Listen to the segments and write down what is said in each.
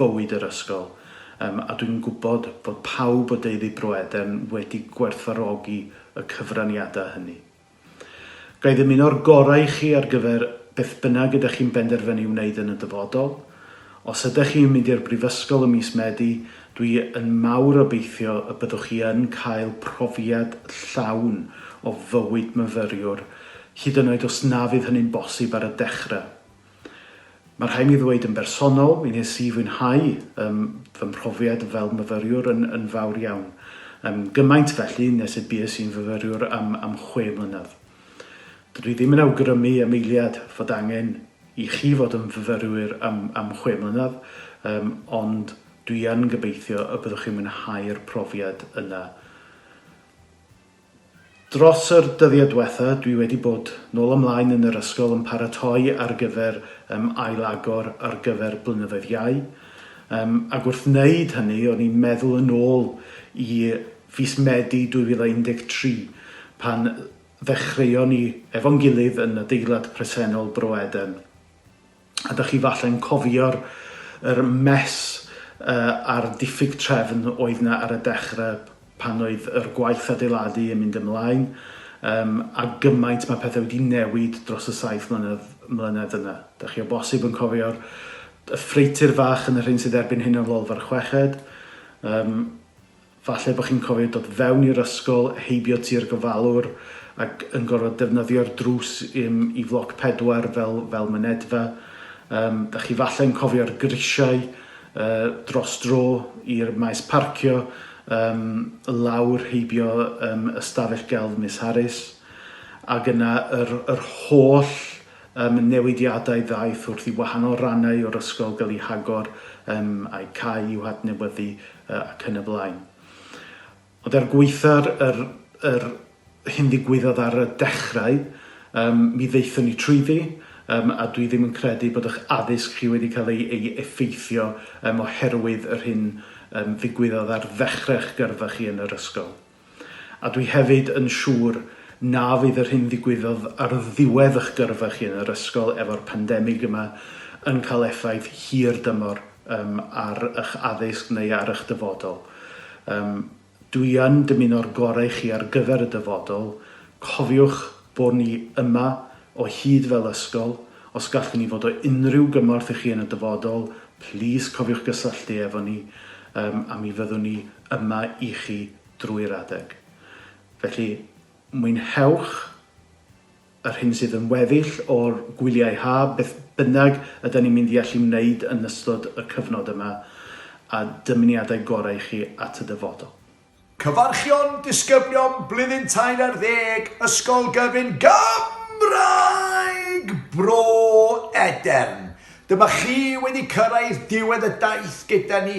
bywyd yr ysgol, yym, a dwi'n gwybod fod pawb o deulu Broeden wedi gwerthfawrogi y cyfraniadau hynny. Ga i ddymuno'r gorau i chi ar gyfer beth bynnag ydych chi'n benderfynu wneud yn y dyfodol. Os ydych chi yn mynd i'r Brifysgol ym mis Medi, dwi yn mawr obeithio y byddwch chi yn cael profiad llawn o fywyd myfyriwr, hyd yn oed os na fydd hynny'n bosib ar y dechrau. Mae rhaid mi ddweud yn bersonol, mi wnes i fwynhau ym, fy mhrofiad fel myfyriwr yn, yn fawr iawn. Ym, gymaint felly nes y bues i'n fyfyriwr am, am chwe mlynedd. Dydw i ddim yn awgrymu am eiliad fod angen i chi fod yn fyfyrwyr am, am chwe mlynedd, ym, ond dwi yn gobeithio y byddwch chi'n mwynhau'r profiad yna. Dros yr dyddiau dwetha dwi wedi bod nôl a mlaen yn yr ysgol yn paratoi ar gyfer yym ailagor ar gyfer blynyddoedd iau yym ag wrth wneud hynny o'n i'n meddwl yn ôl i fis Medi 2013 pan ddechreuon ni efo'n gilydd yn adeilad presennol Bro Eden. a dych chi falle'n cofio'r yr mess uh, a'r diffyg trefn oedd na ar y dechrau pan oedd yr gwaith adeiladu yn mynd ymlaen, um, a gymaint mae pethau wedi newid dros y saith mlynedd, mlynedd yna. Dych chi o bosib yn cofio'r y ffreitur fach yn y rhyn sydd erbyn hyn yn lolfa'r chweched, um, Falle bod chi'n cofio dod fewn i'r ysgol, heibio tua'r gofalwr ac yn gorfod defnyddio'r drws i'm i floc pedwar fel fel mynedfa. Yym, da chi falle yn cofio'r grisiau yy dros dro i'r maes parcio, yym, lawr heibio yym ystafell gelf Miss Harris, ag yna yr yr holl Ym newidiadau ddaeth wrth i wahanol rannau o'r ysgol gael eu hagor, ym a'u cae i'w hadnewyddu, ac yn y blaen. Ond er gwaetha'r yr yr hyn ddigwyddodd ar y dechrau, ym mi ddaethon ni trwyddi, ym a dwi ddim yn credu bod y'ch addysg chi wedi cael ei ei effeithio ym oherwydd yr hyn ym ddigwyddodd ar ddechrau'ch gyrfa chi yn yr ysgol. A dwi hefyd yn siŵr na fydd yr hyn ddigwyddodd ar ddiwedd y'ch gyrfa chi yn yr ysgol efo'r pandemig yma yn cael effaith hir dymor yym ar y'ch addysg neu ar y'ch dyfodol. Yym dwi yn dymuno'r gore i chi ar gyfer y dyfodol. Cofiwch bo ni yma o hyd fel ysgol. Os gallwn ni fod o unrhyw gymorth i chi yn y dyfodol, plîs cofiwch gysylltu efo ni yym a mi fyddwn ni yma i chi drwy'r adeg. Felly, mwynhewch yr hyn sydd yn weddill o'r gwyliau haf, beth bynnag ydan ni'n mynd i allu wneud yn ystod y cyfnod yma, a dymuniadau gorau i chi at y dyfodol. Cyfarchion disgyblion blwyddyn tair ar ddeg Ysgol Gyfun Gymraeg Bro Edern. Dyma chi wedi cyrraedd diwedd y daith gyda ni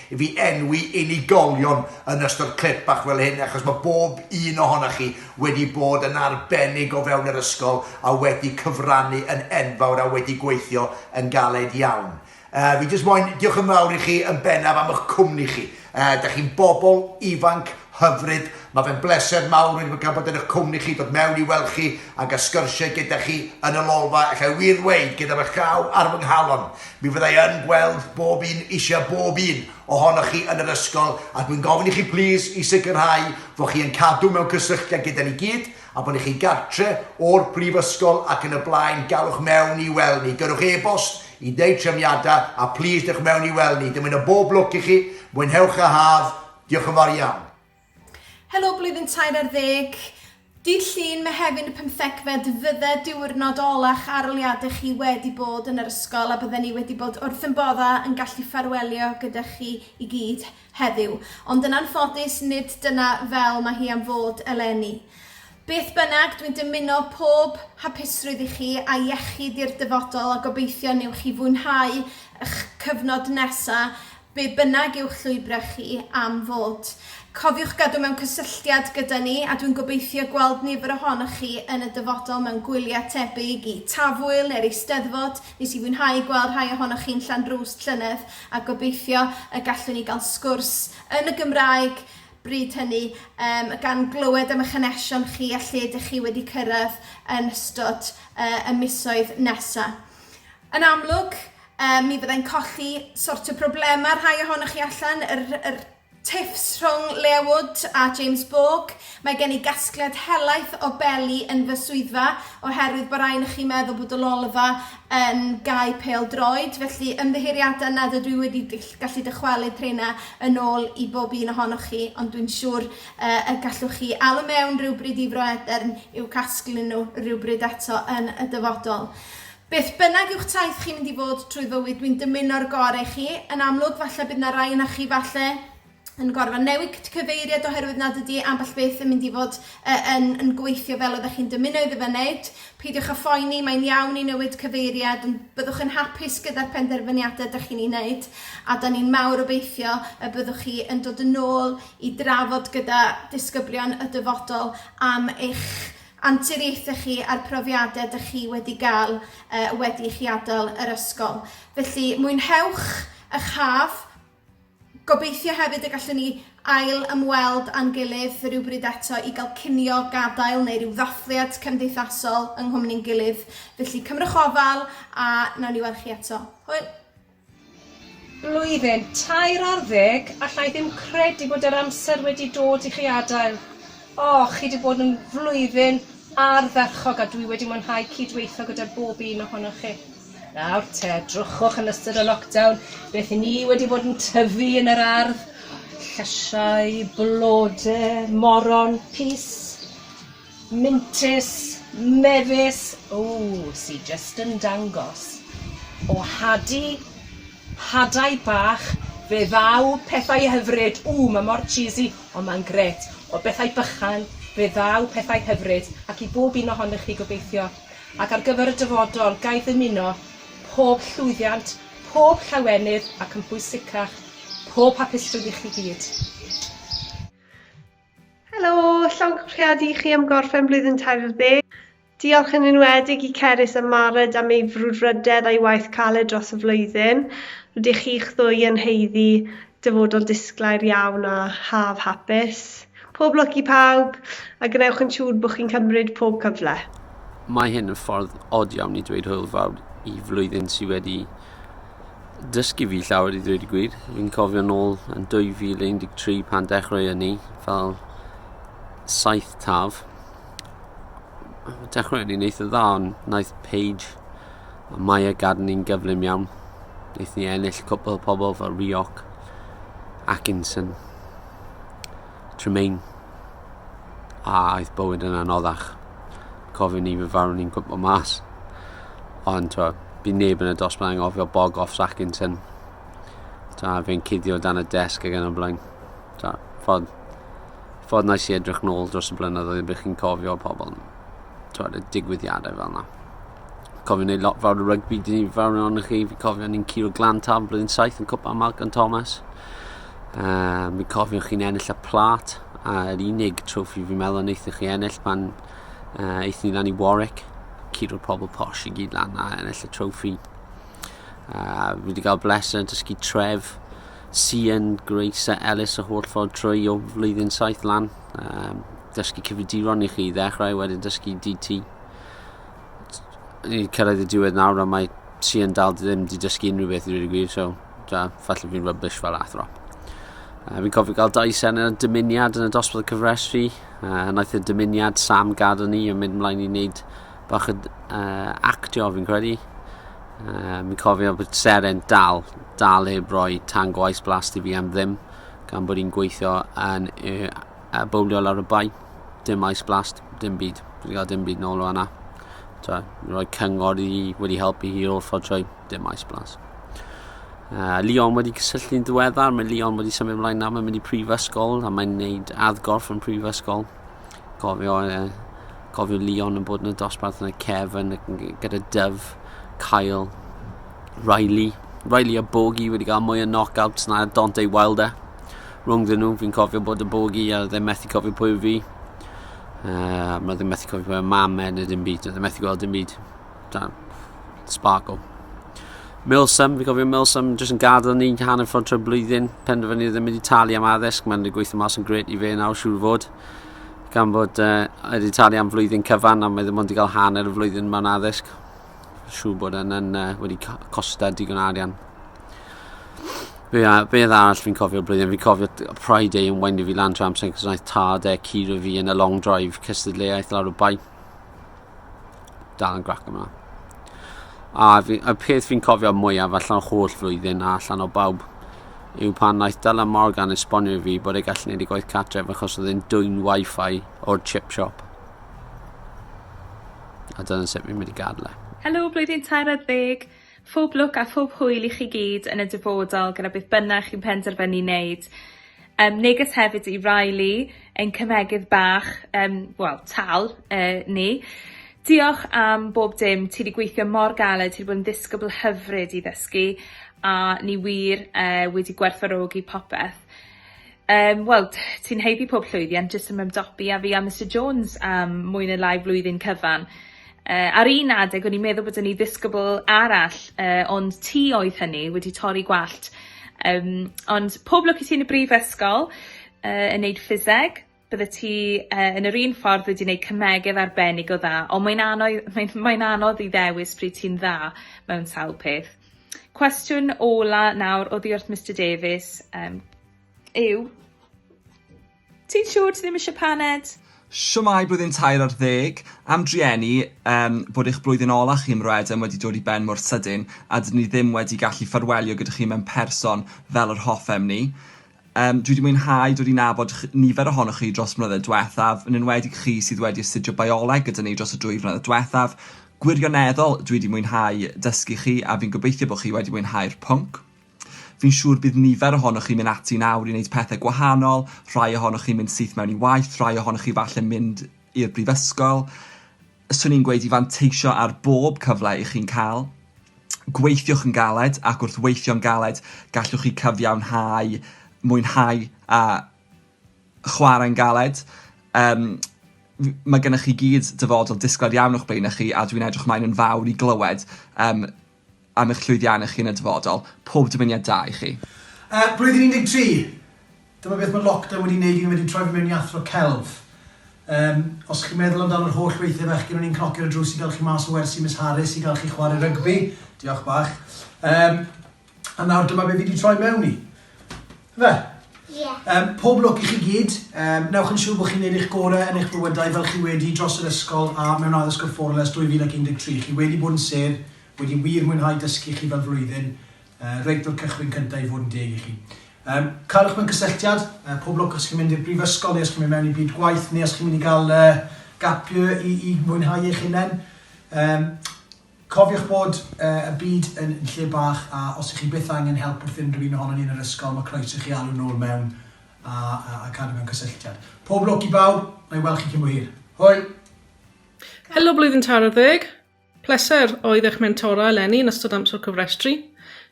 I fi enwi unigolion yn ystod clip bach fel hyn achos mae bob un ohonoch chi wedi bod yn arbennig o fewn yr ysgol a wedi cyfrannu yn enfawr a wedi gweithio yn galed iawn. Uh, fi jyst moyn diolch yn fawr i chi yn bennaf am eich cwmni chi. Uh, da chi'n bobl ifanc hyfryd. Mae fe'n bleser mawr wedi bod gan bod yn eich cwmni chi, dod mewn i weld chi ac a sgyrsiau gyda chi yn y lolfa, allai wir ddweud gyda fy llaw ar fy nghalon. Mi fydda i yn gweld bob un, eisiau bob un, ohonoch chi yn yr ysgol a dwi'n gofyn i chi plîs i sicrhau fod chi yn cadw mewn cysylltiad gyda ni gyd a bod chi'n gartre' o'r brifysgol ac yn y blaen, gallwch mewn i weld ni, gyrrwch e-bost i wneud trefniadau a plîs dewch mewn i weld ni. Dymuno bob lwc i chi, mwynhewch y haf, diolch yn fawr iawn. Helo blwyddyn tair ar ddeg. Dydd Llun, Mehefin y pymthegfed fydde diwrnod ola'ch aroliadau chi wedi bod yn yr ysgol a bydden ni wedi bod wrth yn bodda yn gallu ffarwelio gyda chi i gyd heddiw. Ond yn anffodus nid dyna fel mae hi am fod eleni. Beth bynnag, dwi'n dymuno pob hapusrwydd i chi a iechyd i'r dyfodol a gobeithio newch chi fwynhau 'ych cyfnod nesa' Be bynnag yw'ch llwybrau chi am fod, cofiwch gadw mewn cysylltiad gyda ni a dwi'n gobeithio gweld nifer ohonoch chi yn y dyfodol mewn gwyliau tebyg i Tafwyl neu'r Eisteddfod. Nes i fwynhau gweld rhai ohonoch chi'n Llanrwst llynedd a gobeithio y gallwn ni gael sgwrs yn y Gymraeg bryd hynny, yym, gan glywed am eich hanesion chi a lle dych chi wedi cyrraedd yn ystod y misoedd nesa'. Yn amlwg, yy, mi fyddai'n colli sort o broblema' rhai ohonoch chi allan, yr yr tiffs rhwng Leah Wood a James Bourke. Mae gen i gasgliad helaeth o beli yn fy swyddfa oherwydd bo' rai onoch chi'n meddwl bod y lolfa yn gau pêl droed, felly ymddiheuriadau nad ydw i wedi gell- gallu dychwelyd rheina yn ôl i bob un ohonoch chi, ond dwi'n siŵr yy y gallwch chi alw mewn rywbryd i Fro Edern i'w casglu nhw rywbryd eto yn y dyfodol. Beth bynnag yw'ch taith chi'n mynd i fod trwy fywyd dwi'n dymuno'r gore i chi. Yn amlwg falle bydd 'na rai onoch chi falle yn gorfod newid cyfeiriad oherwydd nad ydi ambell beth yn mynd i fod yy yn yn gweithio fel oeddech chi'n dymuno iddo fe wneud. Peidiwch â phoeni, mae'n iawn i newid cyfeiriad ond byddwch yn hapus gyda'r penderfyniadau ydych chi'n ei wneud a 'dan ni'n mawr obeithio y byddwch chi yn dod yn ôl i drafod gyda disgyblion y dyfodol am eich anturiaethau chi a'r profiadau dych chi wedi gael wedi i chi adael yr ysgol. Felly, mwynhewch ych haf. Gobeithio hefyd y gallwn ni ail ymweld â'n gilydd rywbryd eto i gael cinio gadael neu rhyw ddathliad cymdeithasol yng nghwmni'n gilydd. Felly, cymrwch ofal a wnawn ni weld chi eto. Hwyl! Blwyddyn tair ar ddeg, alla i ddim credu bod yr amser wedi dod i chi adael. O, chi 'di bod yn flwyddyn ardderchog a dwi wedi mwynhau cyd-weithio gyda bob un ohonoch chi. Nawr te, drychwch yn ystod y lockdown, beth i ni wedi bod yn tyfu yn yr ardd, llysiau, blode, moron, pys. Mintys, mefus, ww, sy jyst yn dangos o hadu hadau bach fe ddaw pethau hyfryd, ww mae mor cheesy ond mae'n gret, o bethau bychan fe ddaw pethau hyfryd ac i bob un ohonych chi gobeithio. Ac ar gyfer y dyfodol, ga i ddymuno pob llwyddiant, pob llawenydd ac yn bwysicach, pob hapusrwydd i chi gyd. Helo, llawn cyfrifiadu i chi am gorffen blwyddyn tair ar ddeg. Diolch yn enwedig i Cerys a Mared am ei frwdfrydedd a'i waith caled dros y flwyddyn. Rydych chi'ch ddwy yn haeddu dyfodol disglair iawn a haf hapus. Pob lwc i pawb, a gwnewch yn siŵr bod chi'n cymryd pob cyfle. Mae hyn yn ffordd od iawn i ddweud hwyl fawr i flwyddyn sydd wedi dysgu fi llawer i ddweud y gwir. Fi'n cofio nôl yn 2013 pan dechrau yn ni fel saith taf. Dechrau yn ni'n eitha dda, ond wnaeth Paige a Maya gadw ni'n gyflym iawn. Wnaeth ni ennill cwpl pobl fel Rioc, Atkinson, Tremaine. A aeth bywyd yn anoddach. Cofio ni fy farw ni'n gwybod mas. Ond twa, bu neb yn y dosbarth yn gofio bog off Sackinson. Ta, fe'n cuddio dan y desg ag yn y blaen. Ta, ffordd, ffordd nais i edrych nôl dros y blynyddoedd y bych chi'n cofio pobl. Twa, y digwyddiadau fel yna. Cofio wneud lot fawr o rygbi, dyn ni fawr yn ond chi, fi cofio ni'n curo glan tan blwyddyn saith yn cwpa Malcolm Thomas. Uh, mi cofiwch chi'n ennill y plat a yr unig trofi fi'n meddwl yn eithaf chi ennill pan uh, eithaf ni lan i Warwick. Curo pobl posh i gyd lan a ennill y trofi. Uh, fi wedi cael bleser yn dysgu tref Sian, Grace a Ellis o holl ffordd trwy o flwyddyn saith lan. Um, dysgu cyfriduron i chi ddechrau wedyn dysgu DT. i cyrraedd y diwedd nawr a mae Sian dal ddim wedi dysgu unrhyw beth i rydw gwir, so da, falle fi'n rybys fel athro. Uh, fi'n cofio gael dau sen yn y dymuniad yn y dosbarth cyfresru. Uh, naeth y dymuniad Sam gadw ni yn mynd mlaen i wneud bach o uh, actio fi'n credu. Uh, fi'n cofio bod seren dal, dal heb roi tan gwaith blast i fi am ddim, gan bod i'n gweithio yn uh, A bowlio lawr y bai. Dim ice blast, dim byd. Dwi wedi cael dim byd nôl o hwnna. Twa, roi cyngor i wedi helpu hi o'r ffordd trwy, dim ice blast. Uh, Leon wedi cysylltu'n ddiweddar, mae Leon wedi symud ymlaen nawr, mae'n mynd i prifysgol a mae'n gwneud addgorff yn prifysgol. Gofio, uh, gofio Leon yn bod yn y dosbarth yn y Kevin gyda Dyf, Kyle, Riley. Riley a Bogi wedi cael mwy o knockouts na Dante Wilder. rhwng dyn nhw. Fi'n cofio bod y bogi a ddim methu cofio pwy fi. Uh, mae ddim methu cofio pwy y mam e neu dim byd. Oedd ddim methu gweld dim byd. Da, sparkle. Milsam, fi'n cofio Milsam jyst yn gadael ni hanner ffordd trwy blwyddyn. Penderfynu ddim wedi talu am addysg, mae'n gweithio mas yn gret i fe nawr, siŵr fod gan bod uh, wedi talu am flwyddyn cyfan a mae ddim ond wedi cael hanner y flwyddyn mewn addysg. Siw bod yn, yn uh, wedi costa digon arian. Be, a, be arall fi'n cofio blwyddyn? Fi'n cofio Pride Day yn weindio fi lan trwy amser, cos wnaeth tad e curo fi yn y long drive cystadleuaeth lawr y bai. Dal yn grac yma. A, fi, a peth fi'n cofio mwyaf allan o holl flwyddyn a allan o bawb yw pan wnaeth Dylan Morgan esbonio i fi bod ei gallu gwneud ei gwaith cartref achos oedd e'n dwy'n wifi o'r chip shop. A dyna sut fi'n mynd i gadel e. Helo blwyddyn tair ar ddeg! Phob lwc a phob hwyl i chi gyd yn y dyfodol gyda beth bynnag chi'n penderfynu neud. Yym neges hefyd i Riley, ein cymhegydd bach, yym wel tal yy ni. Diolch am bob dim, ti 'di gweithio mor galed, ti 'di bod yn ddisgybl hyfryd i ddysgu a ni wir yy wedi gwerthfawrogi popeth. Yym wel t- ti'n haeddu pob llwyddiant jyst yn ymdopi a fi a Mister Jones am mwy ne' lai flwyddyn cyfan. Yy ar un adeg o'n i'n meddwl bod yn i ddisgybl arall yy ond ti oedd hynny wedi torri gwallt. Yym ond pob lwc i ti yn y brifysgol yy yn neud ffiseg. byddet ti uh, yn yr un ffordd wedi gwneud cymegedd arbennig o dda, ond mae'n anodd, mae'n, mae'n anodd i ddewis pryd ti'n dda mewn sawl peth. Cwestiwn ola nawr o ddiwrth Mr Davies um, yw, ti'n siŵr ti ddim eisiau paned? Siwmai blwyddyn tair ar ddeg, am drueni um, bod eich blwyddyn ola chi ym Mroedem wedi dod i ben mor sydyn a dyn ni ddim wedi gallu ffarwelio gyda chi mewn person fel yr hoffem ni. Yym, dwi 'di mwynhau dod i nabod ch- nifer ohonoch chi dros y mlynedd dwethaf, yn enwedig chi sydd wedi astudio bioleg gyda ni dros y dwy flynedd dwethaf. Gwirioneddol, dwi 'di mwynhau dysgu chi a fi'n gobeithio bod chi wedi mwynhau'r pwnc. Fi'n siŵr bydd nifer ohonoch chi'n mynd ati nawr i wneud pethau gwahanol, rhai ohonoch chi'n mynd syth mewn i waith, rhai ohonoch chi falle mynd i'r brifysgol. 'swn i'n gweud i fanteisio ar bob cyfle i chi'n cael. Gweithiwch yn galed ac wrth weithio'n galed gallwch chi cyfiawnhau mwynhau a chwarae'n galed. Um, mae gennych chi gyd dyfodol disgled iawn o'ch blaen chi a dwi'n edrych ymlaen yn fawr i glywed um, am eich llwyddiannau chi yn y dyfodol. Pob dymuniad da i chi. Yy, blwyddyn 13! Dyma beth mae lockdown wedi neud i ni, mae 'di troi fi mewn i athro celf. Yym, os chi'n meddwl amdan yr holl weithiau fechgyn o'n i'n cnocio ar y drws i gael chi mas o wersi Miss Harris i gael chi chwarae rygbi, diolch bach, yym, a nawr dyma be fi 'di troi mewn i. Fe? Ie. Yym, pob lwc i chi gyd. Yym, newch yn siŵr bod chi'n neud eich gorau yn eich bywydau fel chi wedi dros yr ysgol a mewn addysg y Fforwm ers 2013. Chi wedi bod yn sedd, wedi wir mwynhau dysgu chi fel flwyddyn, yy, reit o'r cychwyn cyntaf i fod yn deg i chi. Yym, caelwch mewn cysylltiad, yy, pob lwc os chi'n mynd i'r brifysgol neu os chi'n mynd mewn i byd gwaith neu os chi'n mynd i gael yy, gap year i, i mwynhau eich hunain. Yym, Cofiwch bod y byd yn lle bach a os ych chi byth angen help wrth unrhyw un ohonon ni yn yr ysgol, mae croeso i chi alw nôl mewn a a cadw mewn cysylltiad. Pob lwc i bawb, na i weld chi cyn bo hir. Hwyl! Helo Blwyddyn Taro Ddeg! Pleser oedd eich mentora eleni yn ystod amser cofrestru.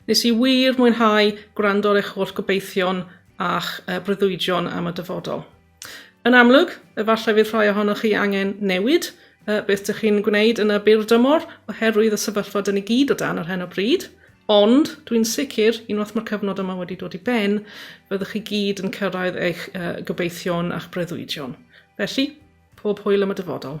Nes i wir mwynhau gwrando ar eich holl gobeithion a'ch breuddwydion am y dyfodol. Yn amlwg, efallai fydd rhai ohonoch chi angen newid uh, beth dych chi'n gwneud yn y byr dymor oherwydd y sefyllfa dyn ni gyd o dan ar hyn o bryd, ond dwi'n sicr, unwaith mae'r cyfnod yma wedi dod i ben, byddwch chi gyd yn cyrraedd eich uh, gobeithion a'ch breuddwydion. Felly, pob hwyl am y dyfodol.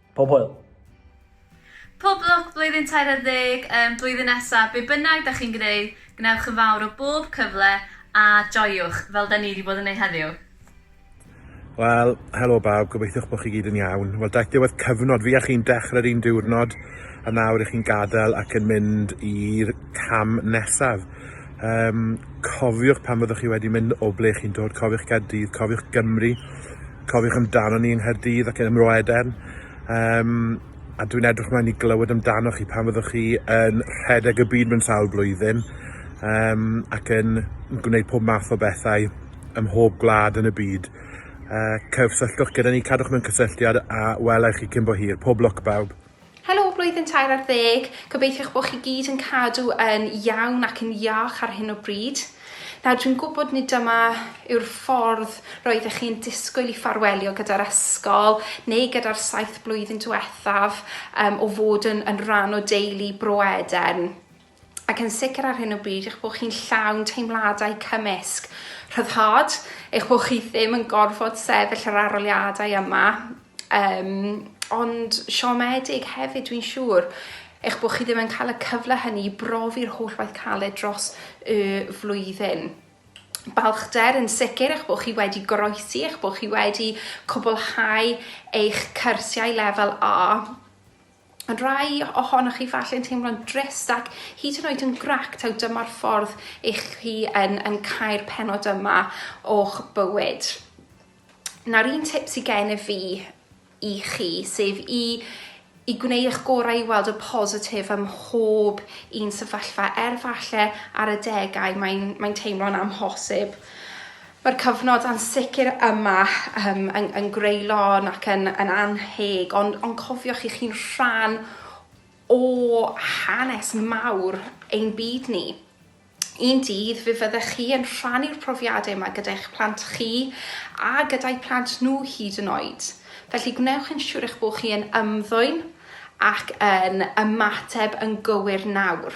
Pob hwyl! Pob lwc blwyddyn tair ar ddeg, um, blwyddyn nesa, be bynnag da chi'n gwneud, gwnewch yn fawr o bob cyfle a joiwch, fel da ni wedi bod yn ei heddiw. Wel, helo bawb, gobeithiwch bod chi gyd yn iawn. Wel, daeth diwedd cyfnod fi a chi'n dechrau'r un diwrnod a nawr i chi'n gadael ac yn mynd i'r cam nesaf. Um, cofiwch pan fyddwch chi wedi mynd o ble chi'n dod, cofiwch Gaerdydd, cofiwch Gymru, Cofiwch amdano ni yng Nghaerdydd ac yn y Mro Edern, um, a dwi'n edrych mlaen i glywed amdano chi pan fyddwch chi yn rhedeg y byd mewn sawl blwyddyn, um, ac yn gwneud pob math o bethau ym mhob gwlad yn y byd. Uh, cysylltwch gyda ni, cadwch mewn cysylltiad a welai chi cyn bo hir. Pob lwc bawb. Helo blwyddyn tair ar ddeg, gobeithio eich bod chi gyd yn cadw yn iawn ac yn iach ar hyn o bryd. Nawr dwi'n gwybod nid dyma yw'r ffordd roeddech chi'n disgwyl i ffarwelio gyda'r ysgol neu gyda'r saith blwyddyn diwethaf um, o fod yn, yn rhan o deulu Bro Edern. ac yn sicr ar hyn o bryd eich bod chi'n llawn teimladau cymysg, rhyddhad, eich bod chi ddim yn gorfod sefyll yr aroliadau yma, um, ond siomedig hefyd dwi'n siŵr eich bod chi ddim yn cael y cyfle hynny i brofi'r holl waith caled dros y flwyddyn balchder yn sicr eich bod chi wedi goroesi, eich bod chi wedi cwblhau eich cyrsiau lefel A Ond rai ohonoch chi falle'n teimlo'n drist ac hyd yn oed yn grac taw dyma'r ffordd eich chi yn, yn cael penod yma o'ch bywyd. Nawr un tip sydd gen i fi i chi, sef i i gwneud eich gorau i weld y positif ym mhob un sefyllfa, er falle ar y degau mae'n mae teimlo'n amhosib. Mae'r cyfnod ansicr yma yym yn yn greulon ac yn yn annheg ond ond cofiwch chi chi'n rhan o hanes mawr ein byd ni. Un dydd fe fyddech chi yn rhannu'r profiadau yma gyda'ch plant chi a gyda'u plant nhw hyd yn oed. Felly gwnewch yn siŵr eich bod chi yn ymddwyn ac yn ymateb yn gywir nawr.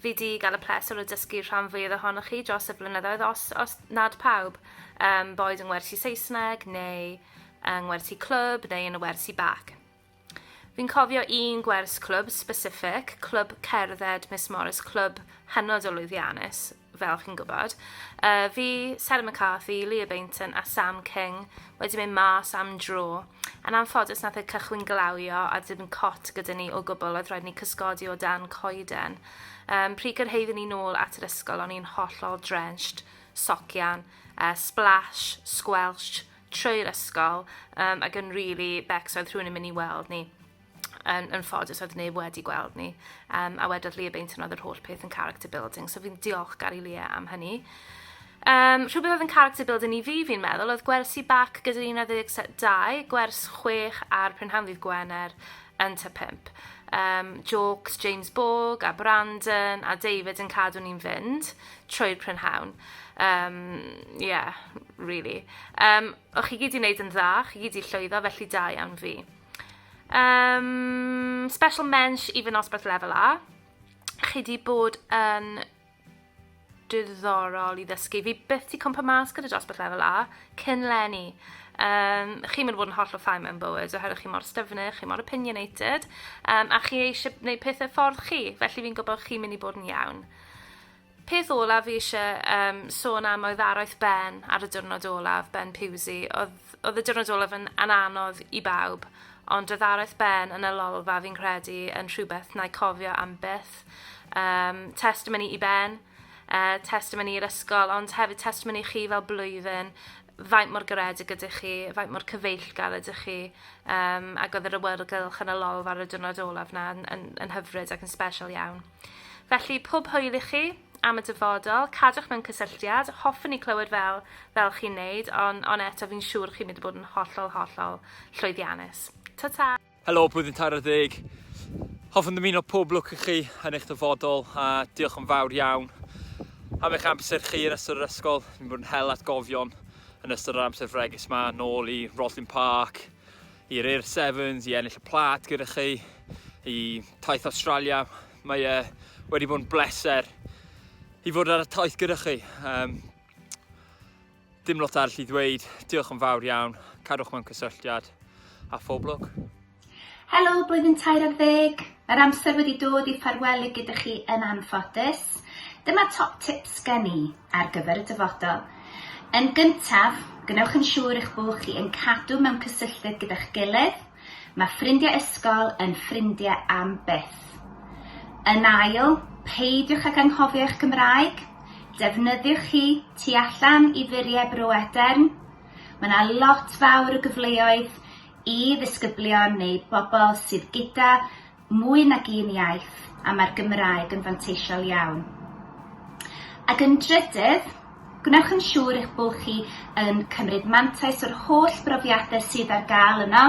fi 'di ga'l y pleser o dysgu rhan fwyaf ohonoch chi dros y blynyddoedd os os nad pawb yym boed yng ngwersi Saesneg neu yng ngwersi clwb neu yn y wersi bac. Fi'n cofio un gwers clwb specific, clwb cerdded Miss Morris, clwb hynod o lwyddiannus, fel chi'n gwybod. Uh, fi, Sarah McCarthy, Leah Bainton a Sam King wedi mynd mas am dro Yn anffodus nath y cychwyn glawio a dim cot gyda ni o gwbl, oedd rhaid ni cysgodi o dan coeden. Um, pryd gyrhaeddwn ni nôl at yr ysgol, o'n i'n hollol drenched, socian, uh, splash, squelch, trwy'r ysgol, um, ac yn really becs oedd rhywun yn mynd i weld ni. yn, yn ffodus oedd neb wedi gweld ni. Um, a wedodd Leah Bainton oedd yr holl peth yn character building, so fi'n diolch gar i Leah am hynny. Um, rhywbeth oedd yn character building i fi, fi'n meddwl, oedd gwersi bac gyda'r 12, gwers 6 a'r prynhawn ddydd Gwener yn ta 5. Um, jokes James Borg a Brandon a David yn cadw ni'n fynd trwy'r prynhawn. Um, yeah, really. Um, o'ch chi gyd i wneud yn dda, chi gyd i llwyddo, felly da iawn fi. Um, special mensch i fy nosbarth lefel A. Chi di bod yn diddorol i ddysgu. Fi byth di cwmpa mas gyda dosbarth lefel A, cyn lenni. Um, chi'n mynd fod yn holl o ffau mewn bywyd, oherwydd chi mor styfnu, chi mor opinionated, um, a chi eisiau gwneud pethau ffordd chi, felly fi'n gwybod chi'n mynd i bod yn iawn. Peth olaf fi isie yym sôn am oedd araith Ben ar y diwrnod olaf, Ben Pusey. Odd odd y diwrnod olaf yn yn anodd i bawb ond odd araith Ben yn y lolfa fi'n credu yn rhywbeth na'i cofio am byth. Yym testimony i Ben, yy testimony i'r ysgol ond hefyd testimony chi fel blwyddyn faint mor garedig ydych chi, faint mor cyfeillgar ydych chi yym ag odd yr awyrgylch yn y lolfa ar y diwrnod olaf 'na yn yn yn hyfryd ac yn sbesial iawn. Felly, pob hwyl i chi am y dyfodol, cadwch mewn cysylltiad, hoffwn i clywed fel, fel chi'n neud, ond on eto fi'n siŵr chi'n mynd i bod yn hollol, hollol llwyddiannus. Ta-ta! Helo, Blwyddyn Tair ar Ddeg. Hoffwn ddymuno pob lwc i chi yn eich dyfodol a diolch yn fawr iawn am eich amser chi yn ystod yr ysgol. Fi'n bod yn hel atgofion yn ystod yr amser fregus ma, nôl i Roslyn Park, i Rhyr Sevens i ennill y plat gyda chi, i taith Australia. Mae e wedi bod yn bleser i fod ar y taith gyda chi. Um, dim lot arall i ddweud, diolch yn fawr iawn, cadwch mewn cysylltiad a phob lwc. Helo, blwyddyn tair ar ddeg. Mae'r amser wedi dod i ffarwelu gyda chi yn anffodus. Dyma top tips gen i ar gyfer y dyfodol. Yn gyntaf, gwnewch yn siŵr eich bod chi yn cadw mewn cysylltiad gyda'ch gilydd. Mae ffrindiau ysgol yn ffrindiau am byth. Yn ail, peidiwch ag anghofio eich Gymraeg. Defnyddiwch hi tu allan i furiau Bro Edern. Mae yna lot fawr o gyfleoedd i ddisgyblion neu bobl sydd gyda mwy nag un iaith a mae'r Gymraeg yn fanteisiol iawn. Ac yn drydydd, gwnewch yn siŵr eich bod chi yn cymryd mantais o'r holl brofiadau sydd ar gael yno.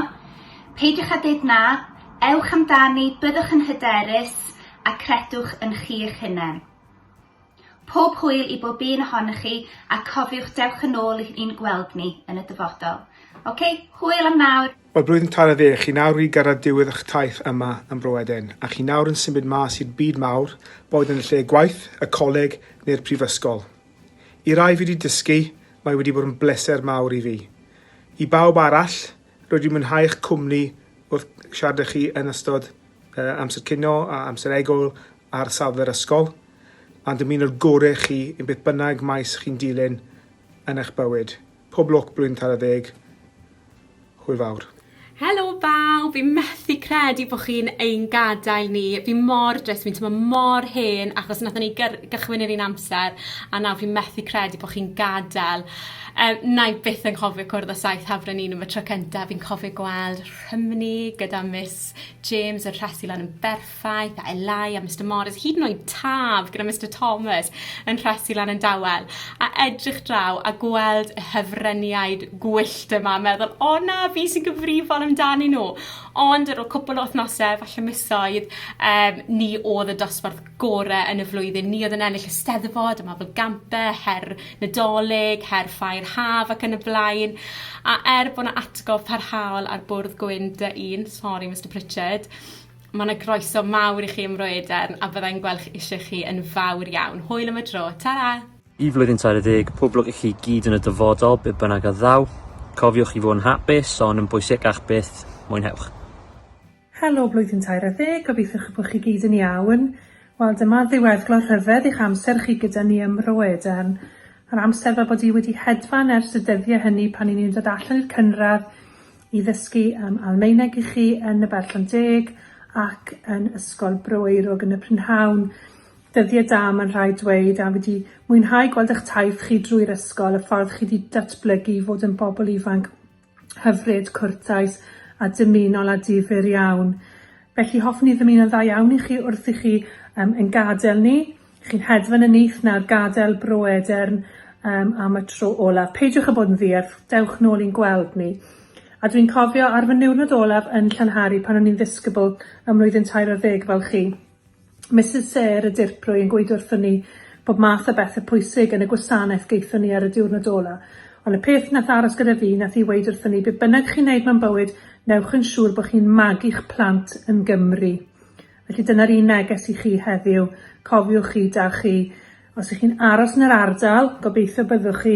Peidiwch â dweud na, ewch amdani, byddwch yn hyderus a credwch yn chi eich hunain. Pob hwyl i bob un ohonoch chi a cofiwch dewch yn ôl i ni'n gweld ni yn y dyfodol. Ok, hwyl am nawr! Mae'r blwyddyn tân ar ddeg, chi nawr wedi gyrraedd diwedd eich taith yma yn Bro Eden, a chi nawr yn symud mas i'r byd mawr, boed yn y lle gwaith, y coleg neu'r prifysgol. I rai fi wedi dysgu, mae wedi bod yn bleser mawr i fi. I bawb arall, rwy wedi mwynhau eich cwmni wrth siarad â chi yn ystod uh, amser cino a amser egwyl ar safle'r ysgol, a dymuno'r gore chi yn beth bynnag maes chi'n dilyn yn eich bywyd. Pob lwc Blwyddyn Tara Deg! Hwyl fawr. Helo bawb! Fi methu credu bo chi'n ein gadael ni. Fi mor drist, fi'n teimlo mor hen achos nathon ni gyrr- gychwyn yr un amser a nawr fi methu credu bo chi'n gadel. Yy wna i byth anghofio cwrdd â saith ha Frenhinw am y tro cynta, fi'n cofio gweld Rhymni gyda Miss James yn rhesi lan yn berffaith Faith a Elai a Mister Morris, hyd yn oed Taf gyda Mister Thomas yn rhesi lan yn dawel, a edrych draw a gweld y hyfryniaid gwyllt yma, meddwl, o na, fi sy'n gyfrifol amdanyn nhw. Ond ar ôl cwpl o wythnosau, falle misoedd, um, ni oedd y dosbarth gore yn y flwyddyn. Ni oedd yn ennill y steddfod, y Mabel Gampe, her Nadolig, her Ffair Haf ac yn y blaen. A er bod yna atgof parhaol ar bwrdd gwyn dy un, sorry Mr Pritchard, Mae 'na groeso mawr i chi ym Mro Edern a byddai'n gweld chi eisiau chi yn fawr iawn. Hwyl am y tro, tara! Y flwyddyn 30, pob lwc i chi gyd yn y dyfodol, be bynnag a ddaw. Cofiwch i fod yn hapus, ond yn bwysicach byth, mwynhewch. Helo blwyddyn 30, gobeithiwch y bod chi gyd yn iawn. Wel, dyma'r ddiweddglo rhyfedd i'ch amser chi gyda ni ym Mro Edern. Yr amser fel bod i wedi hedfan ers y dyddie hynny pan i ni'n dod allan i'r cynradd, i ddysgu yym Almaeneg i chi yn y Berllan Deg ac yn Ysgol Bro Eirug yn y prynhawn. Dyddie da mae'n rhaid dweud a fi 'di mwynhau gweld ych taith chi drwy'r ysgol, y ffordd chi 'di datblygu i fod yn bobl ifanc hyfryd, cwrtais a dymunol a difyr iawn. Felly hoffwn i ddymuno'n dda iawn i chi wrth i chi yym ein gadel ni. Chi'n hedfan yn nyth nawr, gadael Bro Edern um, am y tro olaf. Peidiwch â bod yn ddierth, dewch nôl i'n gweld ni. A dwi'n cofio ar fy niwrnod olaf yn Llanhari pan o'n i'n ddisgybl ym mlwyddyn tair ar ddeg fel chi. Mrs Sayre y dirprwy yn gweud wrthyn ni bod math o bethau pwysig yn y gwasanaeth geithon ni ar y diwrnod ola. Ond y peth nath aros gyda fi nath i weud wrthyn ni be bynnag chi'n neud mewn bywyd, newch yn siŵr bod chi'n magu'ch plant yn Gymru. Felly dyna'r un neges i chi heddiw, cofiwch chi da chi, os ych chi'n aros yn yr ardal, gobeithio byddwch chi,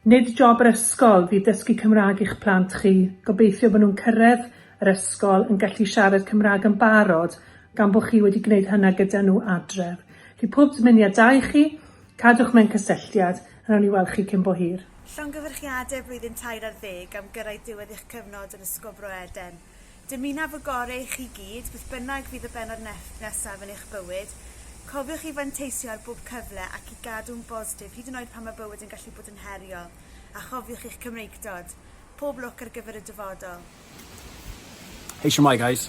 nid job yr ysgol fydd dysgu Cymraeg i'ch plant chi, gobeithio bod nhw'n cyrraedd yr ysgol yn gallu siarad Cymraeg yn barod gan bod chi wedi gwneud hynna gyda nhw adref. Felly pob dymuniadau i chi, cadwch mewn cysylltiad, a wnawn ni weld chi cyn bo hir. Llongyfarchiadau blwyddyn tair ar ddeg am gyrraedd diwedd eich cyfnod yn Ysgol Bro Eden. Dymunaf y gorau i chi gyd, beth bynnag fydd y bennod nesaf yn eich bywyd. Cofiwch i fanteisio ar bob cyfle ac i gadw'n bositif hyd yn oed pan mae bywyd yn gallu bod yn heriol, a chofiwch eich Cymreictod. Pob lwc ar gyfer y dyfodol. Hei shwmae guys.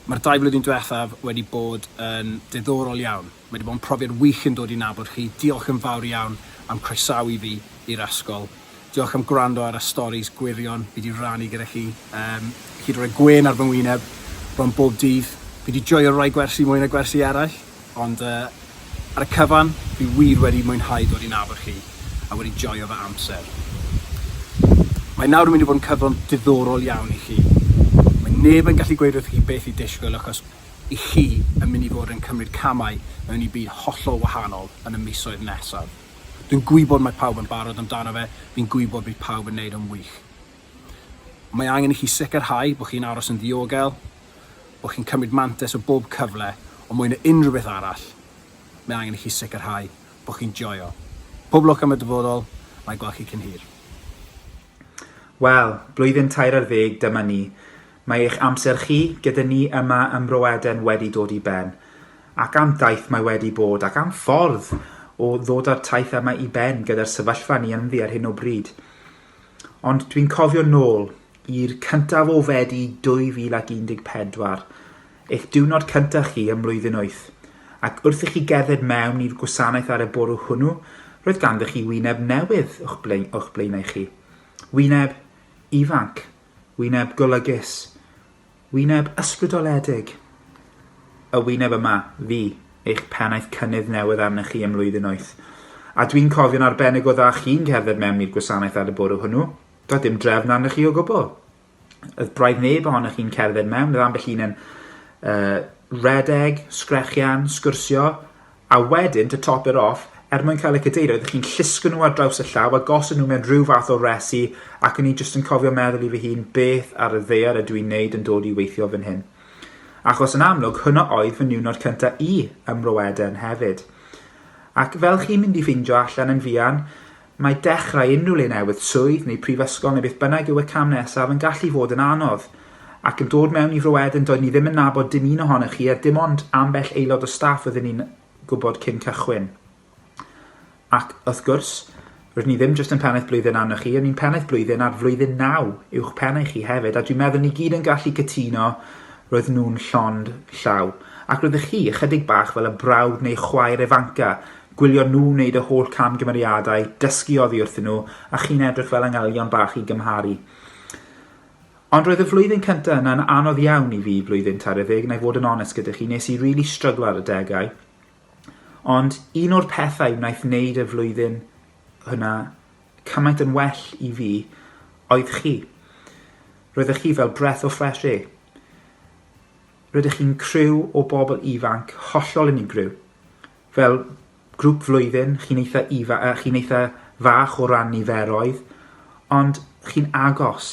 Mae'r dau flwyddyn diwethaf wedi bod yn diddorol iawn. Mae 'di bod yn profiad wych yn dod i nabod chi. Diolch yn fawr iawn am croesawu fi i'r Asgol. Diolch am gwrando ar y storis gwirion fi 'di rannu gyda chi. Yym, chi 'di rhoi gwên ar fy ngwyneb bron bob dydd. Fi 'di joio rhoi gwersi mwy na gwersi eraill, ond yy, ar y cyfan, fi wir wedi mwynhau dod i nabod chi a wedi joio fy amser. Mae nawr yn mynd i fod yn cyfnod diddorol iawn i chi. Mae neb yn gallu gweud wrthoch chi beth i disgwyl achos i chi yn mynd i fod yn cymryd camau mewn i byd hollol wahanol yn y misoedd nesaf. Dwi'n gwybod mae pawb yn barod amdano fe, fi'n gwybod bydd pawb yn neud yn wych. Mae angen i chi sicrhau bod chi'n aros yn ddiogel, bod chi'n cymryd mantes o bob cyfle, ond mwy na unrhyw beth arall, mae angen i chi sicrhau bod chi'n joio. Pob lwc am y dyfodol, na i gweld chi cyn hir. Wel, blwyddyn tair ar ddeg dyma ni. Mae eich amser chi gyda ni yma ym Mro Eden wedi dod i ben, ac am daith mae wedi bod, ac am ffordd o ddod â'r taith yma i ben gyda'r sefyllfa ni ynddi ar hyn o bryd. Ond dwi'n cofio nôl i'r cyntaf o Fedi 2014, eich diwrnod cyntaf chi ym mlwyddyn wyth, ac wrth i chi gerdded mewn i'r gwasanaeth ar y bwrw hwnnw, roedd ganddo chi wyneb newydd o'ch blaenau chi. Wyneb ifanc. wyneb golygus, wyneb ysbrydoledig, y wyneb yma, fi, eich pennaeth cynnydd newydd arnych chi ym mlwyddyn wyth. A dwi'n cofio'n arbennig o dda chi'n cerdded mewn i'r gwasanaeth ar y bwrw hwnnw. Doedd dim drefn arnych chi o gwbl. Oedd braidd neb ohonych chi'n cerdded mewn, oedd ambell un yn uh, redeg, sgrechian, sgwrsio, A wedyn, to top it off, er mwyn cael y cadeirydd, ydych chi'n llusgo nhw ar draws y llaw a gosod nhw mewn rhyw fath o resi, ac o'n i jyst yn cofio meddwl i fy hun, 'beth ar y ddaear ydw i'n neud yn dod i weithio fan hyn? Achos yn amlwg, hwnna oedd fy niwnod cynta' i ym Mro Eden hefyd. Ac fel chi'n mynd i ffeindio allan yn fuan, Mae dechrau unrhyw le newydd, swydd neu prifysgol neu beth bynnag yw y cam nesaf, yn gallu fod yn anodd. Ac yn dod mewn i fro Eden doedd ni ddim yn nabod dim un ohonoch chi a dim ond ambell aelod o staff oeddwn ni'n gwybod cyn cychwyn. Ac, wrth gwrs, rydyn ni ddim jyst yn pennaeth blwyddyn arnoch chi, ond ni'n pennaeth blwyddyn ar flwyddyn naw uwch pen i chi hefyd, a dwi'n meddwl ni gyd yn gallu cytuno roedd nhw'n llond llaw. Ac roeddech chi, ychydig bach fel y brawd neu chwaer ifanca, Gwylio nhw wneud y holl camgymeriadau, dysgu oddi wrthyn nhw, a chi'n edrych fel angylion bach i gymharu. Ond roedd y flwyddyn cyntaf yna'n anodd iawn i fi, blwyddyn tair ddeg, na i fod yn onest gyda chi, nes i really stryglo ar y degau. Ond un o'r pethau wnaeth wneud y flwyddyn hwnna cymaint yn well i fi oedd chi. Roeddech chi fel breath o fresh air. Rydych chi'n criw o bobl ifanc hollol unigryw. Fel grŵp flwyddyn, chi'n eitha ifa, uh, chi'n eitha fach o ran niferoedd, ond chi'n agos,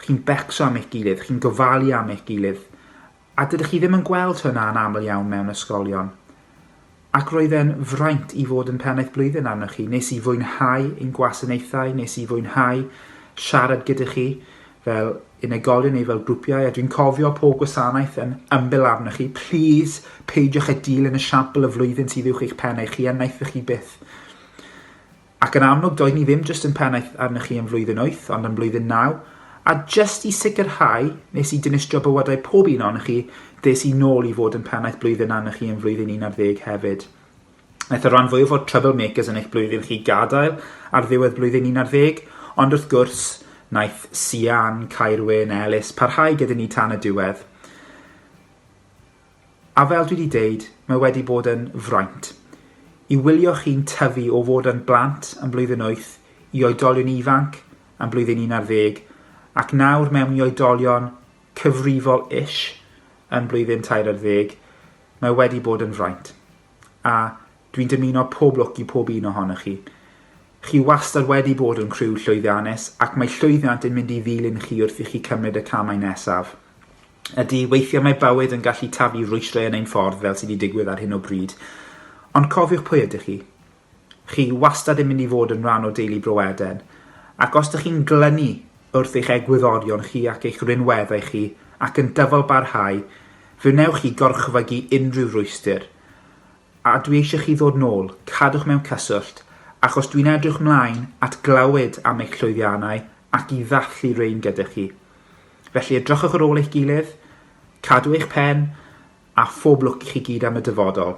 chi'n becso am eich gilydd, chi'n gofalu am eich gilydd, a dydych chi ddim yn gweld hynna yn aml iawn mewn ysgolion. Ac roedd e'n fraint i fod yn pennaeth blwyddyn arnoch chi. Nes i fwynhau ein gwasanaethau, nes i fwynhau siarad gyda chi, fel unigolion neu fel grwpiau, a dwi'n cofio pob gwasanaeth yn ymbil arnoch chi, plîs peidiwch â dilyn y siampl y flwyddyn sydd uwch eich pen eich chi a wnaethoch chi byth. Ac yn amlwg, doedd ni ddim jyst yn pennaeth arnoch chi yn flwyddyn 8, ond yn blwyddyn 9, a jyst i sicrhau nes i dinistrio bywydau pob un ohonoch chi, des i nôl i fod yn pennaeth blwyddyn arnoch chi yn flwyddyn 11 hefyd. Aeth y rhan fwyaf o'r Trouble Makers yn eich blwyddyn chi gadael ar ddiwedd blwyddyn 11, ond wrth gwrs, naeth Sian, Caerwyn, Elis parhau gyda ni tan y diwedd. A fel dwi wedi deud, mae wedi bod yn fraint. I wylio chi'n tyfu o fod yn blant yn blwyddyn 8 i oedolion ifanc yn blwyddyn 11 ac nawr mewn i oedolion cyfrifol ish yn blwyddyn 13, mae wedi bod yn fraint. a dwi'n dymuno pob lwc i pob un ohonoch chi. Chi wastad wedi bod yn criw llwyddiannus ac mae llwyddiant yn mynd i ddilyn chi wrth i chi cymryd y camau nesaf. Ydy, weithiau mae bywyd yn gallu taflu rwystrau yn ein ffordd fel sydd wedi digwydd ar hyn o bryd. Ond cofiwch pwy ydych chi. Chi wastad yn mynd i fod yn rhan o deulu Bro Eden, ac os dych chi'n glynu wrth eich egwyddorion chi ac eich rhinweddau chi ac yn dyfalbarhau, fe wnewch chi gorchfygu unrhyw rwystyr. A dwi eisiau chi ddod nôl, cadwch mewn cyswllt, achos dwi'n edrych mlaen at glywed am eich llwyddiannau ac i ddathlu rein gyda chi. Felly edrychwch ar ôl eich gilydd, cadw eich pen, a phob lwc i chi gyd am y dyfodol.